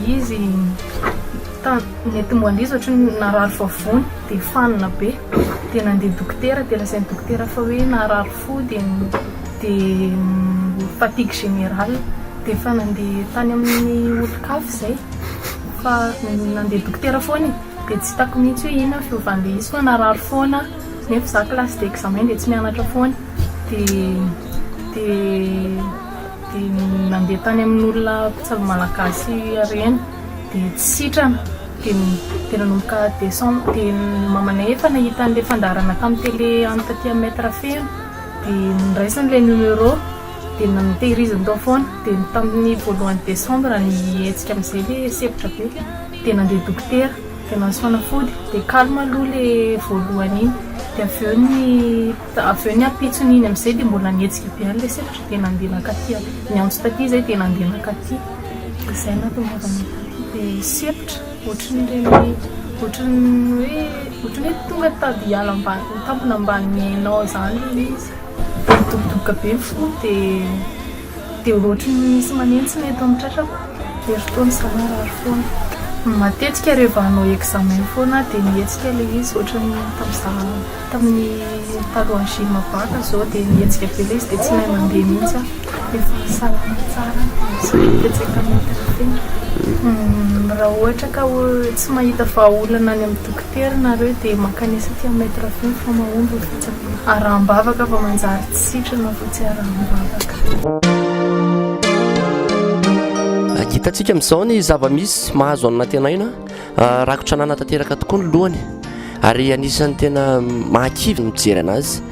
Izy nety mbola andeha izy ohatran'ny narary vavony dia fanina be dia nandeha dokotera dia lazain'ny dokotera fa hoe narary fo dia dia fatigue générale dia efa nandeha tany amin'ny olon-kafa izay fa nandeha dokotera foana e dia tsy hitako mihitsy hoe inona ny fiovan'ilay izy fa narary foana nefa izaho classe d'examen dia tsy mianatra foana dia dia dia nandeha tany amin'olona mpitsabo malagasy harena dia tsy sitrana dia dia nanomboka décembre dia ny mamanay efa nahita an'ilay fandaharana tamin'ny télé any taty amin'ny mètre feno dia noraisiny ilay numéro dia na- notehiriziny tao foana dia ny tamin'ny voalohan'ny décembre nihetsika amin'izay ilay sepotra be dia nandeha dokotera dia nahazo fanafody dia calme aloha ilay voalohany iny dia avy eo ny Dia avy eo ny ampitsony iny amin'izay dia mbola nihetsika be an'ilay selatro dia nandeha nankaty niantso taty izy dia nandeha nankaty. Dia izay no nahatongavany taty dia sepotra ohatran'ireny ohatran'ny hoe ohatran'ny hoe tonga tady hiala ambany ho tampina ambany hainao izany ilay izy. Dia nidobodoboka be ny fony dia. Dia ohatry ny misy manentsina eto amin'ny tratrako, herintaona izany marary foana. Matetika rehefa hanao examen foana aho dia mihetsika ilay izy ohatry ny tamin'izaho tamin'ny talohan'ny gym vaka izao dia mihetsika be ilay izy dia tsy mahay mandeha mihitsy aho. Efa salama tsara aho dia tsy mihetsiketsika mihitsy ny tena. Raha ohatra ka tsy mahita vahaolana any amin'ny dokotera ianareo dia mankanesa aty amin'ny maitre fony fa mahomby ny fitsabahana. Araham-bavaka fa manjary tsy sitrana fa tsy araham-bavaka. Hitantsika amin'izao ny zava-misy mahazo an'Antenaiona. Rakotra anana tanteraka tokoa ny lohany ary anisan'ny tena mahakivy ny mijery anazy.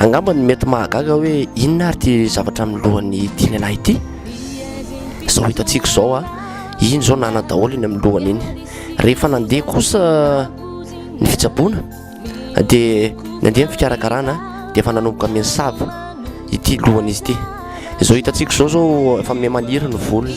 Angamba ny mety mahagaga hoe inona ary ity zavatra amin'ny lohan'ity lehilahy ity. Izao hitantsika izao a, iny izao nana daholo iny amin'ny lohany iny. Rehefa nandeha kosa ny fitsaboana. dia nandeha ny fikarakarana dia efa nanomboka minsava ity lohan'izy ity izao hitantsika izao zao efa me maniry ny volony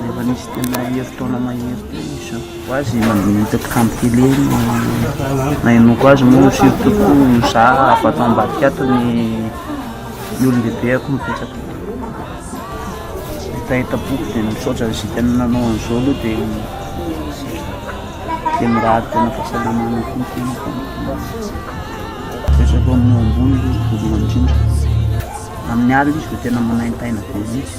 Rehefa nisy tena herintaona mahery teo ny isampy ko azy nahita mpikambon tele iny nahenoako azy moa surtout ko za avy ato ambadika ato ny olon-dehibeako mipetraka hetaheta-po ko dia misaotra an'izay tena nanao an'izao aloha dia dia mirary tena fahasalamana koa ny tenako mipetraka eo amin'ny eo ambony aloha voalohany indrindra, amin'ny alina izy vao tena manaintaina be mihintsy.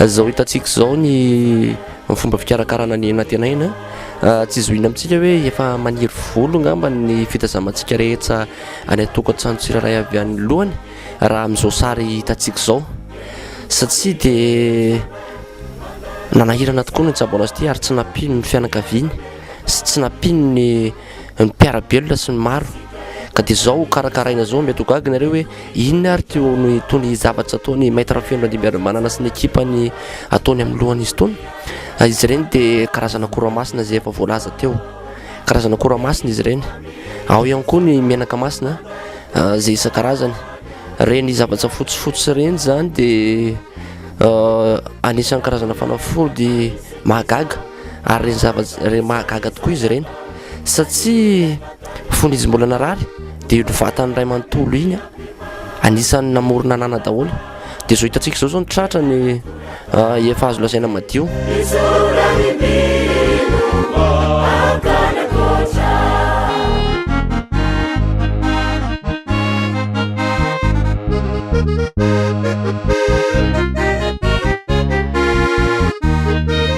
Izao hitantsika izao ny ny fomba fikarakarana ny anantenaina, tsy zohina amintsika hoe efa maniry volo angamba ny fitazamantsika rehetra any an-tokantrano tsirairay avy any lohany raha amin'izao sary hitantsika izao satsia dia nanahirana tokoa ny Jaboina City ary tsy nampiany ny fianakaviany sy tsy nampiany ny ny mpiara-belona sy ny maro ka dia izao ho karakaraina izao mety ho gaga ianareo hoe inona ary teo no itony zavatra ataony Maître Rafeno Randriambiarimanana sy ny ekipany ataony amin'ny lohan'izy itony ah, izy ireny dia karazana kora masina izay efa voalaza teo karazana kora masina izy ireny ao ihany koa ny menaka masina ah, izay isan-karazany reny zavatra fotsifotsy ireny izany dia ah, anisan'ny karazana fanafody mahagaga ary ireny zavatra ireny mahagaga tokoa izy ireny satria fony izy mbola narary dia iny vatan'ny ray manontolo iny anisan'ny namorona anana daholo dia izao hitantsika izao izao ny tratra ny ah, efa azo lazaina madio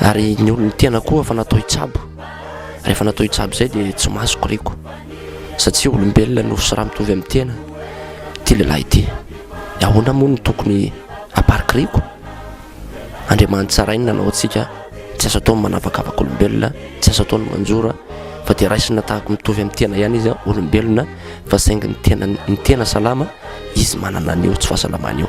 ary ny olon'ny tena koa efa natao hitsabo, rehefa natao hitsabo izay dia tsy mahazo koriko, satsia olombelona no sy raha mitovy amin'ny tena ity lehilahy ity, dia ahoana moa no tokony haparikiriko? Andriamanitra tsarainy nanao antsika, tsy azo atao ny manavakavaka olombelona, tsy azo atao ny manjora, fa dia raisina tahaka mitovy amin'ny tena ihany izy, olombelona fa saingy ny tena, ny tena salama, izy manana an'io tsy fahasalamana io.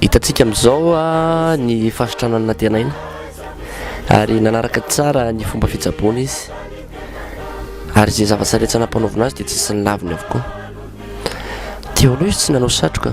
Hitantsika amin'izao ny fahasitranan'ny nantenaina ary nanaraka tsara ny fomba fitsaboana izy ary izay zava-tsaretsana ampanaovina azy dia tsy nisy ny laviny avokoa. Teo aloha izy tsy nanao satroka.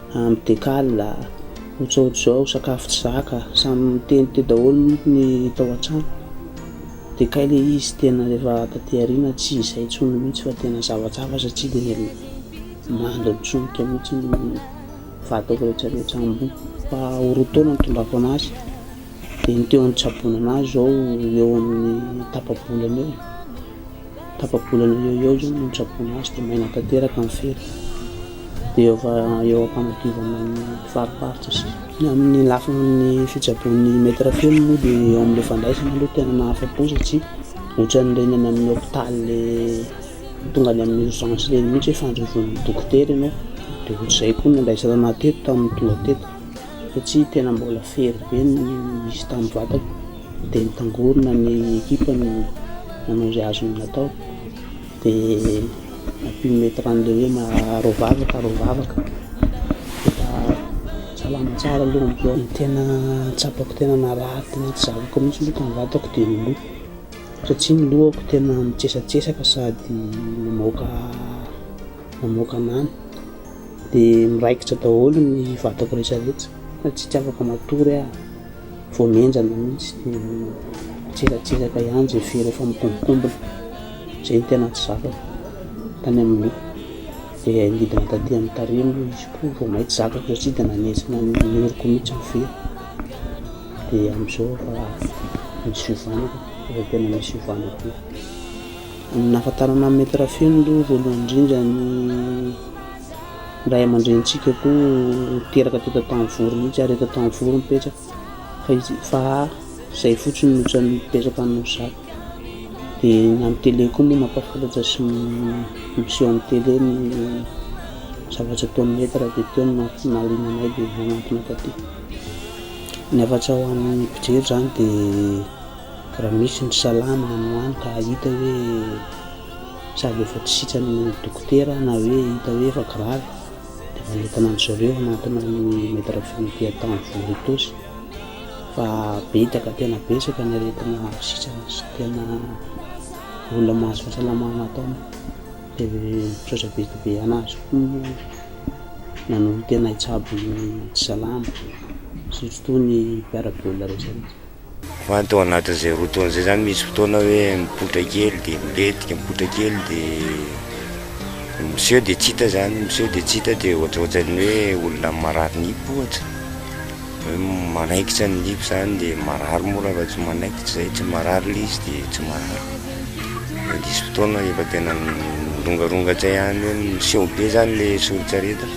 Amby de kal a! Otsaotr'izao sakafo tsy zaka, samy miteny teo daholo manko ny tao an-trano. De kay le izy tena rehefa taty aoriana tsy izay intsony mihitsy fa tena zava-tsafa satria dia mando ny solika mihitsy ny vadiko rehetra rehetra ambony. Fa ho roa taona nitondràko an'azy de ny teo an-tsaboana an'azy izao eo amin'ny tapa-bolana eo. tapa-bolana eo eo izany no nitsaboana azy dia maina tanteraka ny fery. Dia eo fa eo am-panadiovana ny fariparitra sy ny amin'ny lafiny fitsaboan'ny maître film moa dia eo amin'ilay fandraisana aloha tena mahafa-po satria ohatran'ireny any amin'ny hôpitaly ilay tonga any amin'ny urgence ireny mihitsy hoe fandrosoan'ny dokotera ianao, dia ohatr'izay koa no nandraisana anà teto tamin'ny tonga teto. satria tena mbola fery be ny nisy tamin'ny vadako dia nitangorona ny ekipa no nanao izay azony natao dia nampimetra an'ilay hoe maharao vavaka harao vavaka dia salama tsara aloha ny loha, ny tena tsapako tena narary tena tsy zavako mihitsy aloha tamin'ny vadako dia ny loha satria ny lohako tena mitsesatsesaka sady mamoaka mamoaka an'any. Dia miraikitra daholo ny vatako rehetra rehetra fa tsy afaka matory aho, vao mihenjana mihintsy dia mitsilatsiraka ihany zay fery efa mikombokombona, zay no tena tsy zakako tany amin'ny loha, dia nidina taty amin'ny tarehy moa izy koa vao mainka tsy zakako satria dia nanenjina ny oroko mihintsy ny fery, dia amin'izao efa misy fiovana, efa tena misy fiovana be. Ny nahafantarana an'i Maître Feno aloha voalohany indrindra ny ray aman-drenintsika koa niteraka teto an-tanivory mihitsy ary eto an-tanivory no mipetraka fa izy fa izay fotsiny no tsy mipetraka any Nosy dia ny amin'ny tele koa moa mampahafantatra sy miseho amin'ny tele ny zavatra ataon'i Maître dia teo no nahaliana anay dia nanantona taty. Ny hafatsa ho an'ny mpijery izany dia Raha misy ny salamina no any ka hita hoe sady efa tsy sitrany ny dokotera na hoe hita hoe efa gravy dia efa entina an-dry zareo anatina ny maitre funique atao amin'ny voa ritosy fa betsaka tena betsaka ny aretina sitrana sy tena olona mahazo fahasalamana atao dia misaotra be dia be an'azy koa nanolo-tena hitsabo ny tsy salama surtout ny mpiara-belona rehetra rehetra. Fa ny tao anatin'izay roa taona izay zany misy fotoana hoe mipoitra kely dia milentika, mipoitra kely dia miseho dia tsy hita zany, miseho dia tsy hita dia ohatrohatran'ny hoe olona marary nify ohatra, hoe manaikitra ny nify zany dia marary moa raha vao tsy manaikitra izay, tsy marary ilay izy dia tsy marary, mandisy fotoana rehefa tena mirongaronga tsy hay any hoe miseho be zany ilay soritr'aretina.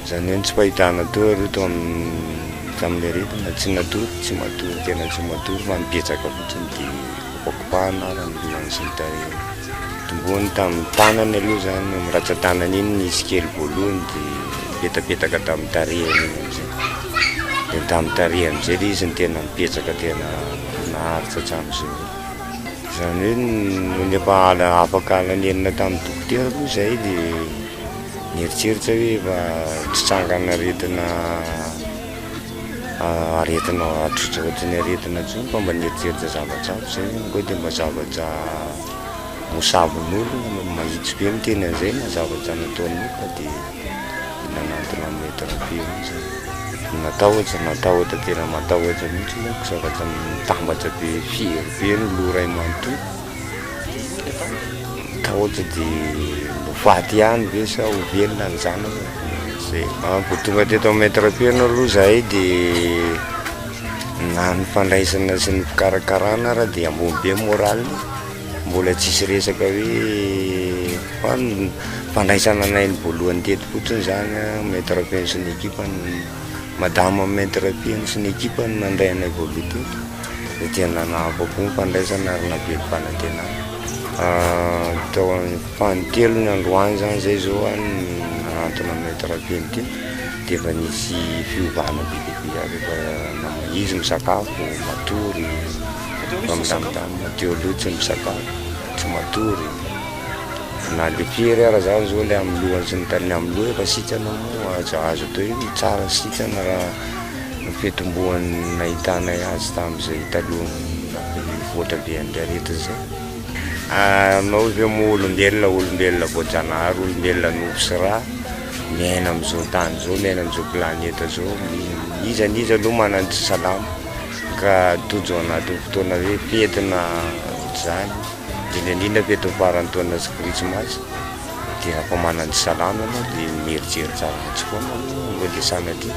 Izany hoe ny tsy fahitana teo aloha tao amin'ny tamin'ilay aretina tsy natory, tsy matory tena tsy matory fa nibetsaka fotsiny dia kopakopahana ara ny lohany sy ny tarehiny. Notombohany tamin'ny tanany aloha izany, iny ratsan-tanany iny nisy kely voalohany dia nipetapetaka tamin'ny tarehiny iny amin'izay. Dia tamin'ny tarehy amin'izay ilay izy no tena nibetsaka tena naharitra hatramin'izao. Izany hoe nony efa afaka halan'enina tamin'ny dokotera moa izay dia. Mieritreritra hoe efa tritrangan'aretina aretina ohatry ny aretina intsony fa mba nieritreritra zavatra hafa zay zany koa de mba zavatra mosavin'olona mba mahitsy be miteny an'izay na zavatra nataon'olona de nanantona an'i maître Be io zany. Natahotra natahotra tena matahotra mihitsy manko zavatra mitambatra be firy be ny loha ray manontolo. Kaoty de ho faty ihany ve sa ho velona ny zanany? Zay. Vao tonga teto amin'ny maître Peno aloha zahay de na ny fandraisana sy ny fikarakarana ary de ambony be morale-ny, mbola tsisy resaka hoe fa ny fandraisana anay ny voalohany teto fotsiny zany an, maître Peno sy ny équipe-ny. Madama Maître Rapihaino sy ny ekipany nandray anay voaloha teto dia tena nanahafa-po ny fandraisana ary navelom-panantenana. Tao faha-telo ny androany izany izay izao aho no nanantona an'i Maître Rapihaino ity dia efa nisy fiovana be dia be ary efa nama- izy misakafo, matory, efa milamindamina, teo aloha tsy misakafo, tsy matory. Na le pierre ara zany zao le amin'ny lohany sy ny tariny amin'ny loha efa sitrana moa aza azo atao hoe mitsara ny sitrana raha ny fitomboan'ny nahitanay azy tamin'izay talohan'ny nivoatra be an'ilay aretina izay. Anao ve moa olombelona olombelona voajanahary olombelona nofo sy ra miaina amin'izao tany izao miaina amin'izao planeta izao iza na iza aloha manana ny tsy salama ka tojo anatin'ny fotoana hoe fety na ohatr'izany Dimy an'iny aloha eto faran'ny taona sy krismasy dia efa manan'ny salama ianao dia mierijery tsara azy foana aloha aloha dia sanatria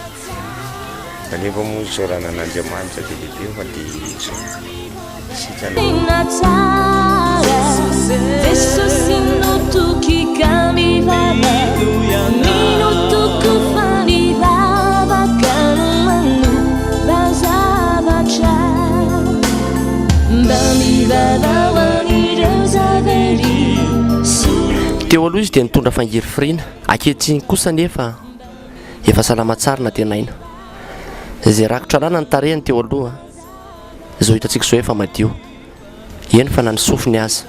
fa nefa moa isaorana an'Andriamanitra be dia be fa dia izao isika no Tena tsara Jesosy no toky ka mivava Mino toko fa ny vavaka no manova zavatra Teo aloha izy dia nitondra fangirifiriana, ankehitriny kosa anefa efa salama tsara nantenaina. Izay rakotra làlana ny tarehiny teo aloha, izao hitantsika izao efa madio, eny fa na ny sofiny aza.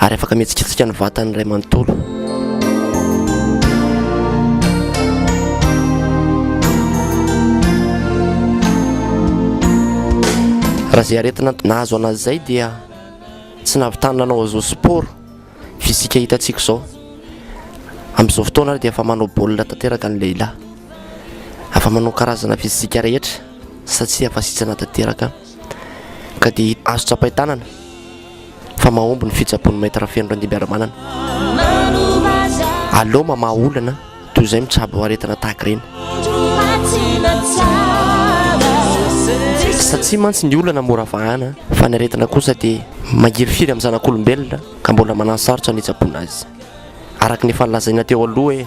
ary afaka mihetsiketsika ny vatany iray manontolo. raha izay aretina nahazo anazy izay dia tsy nahavitany nanao azao sport fisika hitantsika izao amin'izao fotoana ary dia efa manao baolina tanteraka ny lehilahy afa manao karazana fisika rehetra satsia fasitsana tanteraka Ka dia azo tsapain-tanana fa mahomby ny fitsaboan'ny Maître Feno Randimbiaramanana. Aleo mamaha olana toy izay mitsabo aretina tahaka ireny. Satsia mantsy ny olana mora vahana fa ny aretina kosa dia magirifiry amin'ny zanak'olombelona ka mbola mananosarotra ny hitsaboana azy. Araka ny efa nolazaina teo aloha hoe.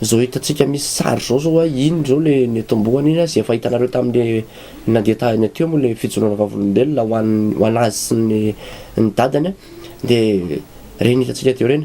Zao hitantsika misy sary zao zao hoe iny zao le netombohana iny zay efa hitanareo tamin'le nandeha tahiny aty moa le fijoroana vavolombelona ho an'ny ho an'azy sy ny ny dadany a de reny hitantsika teo reny.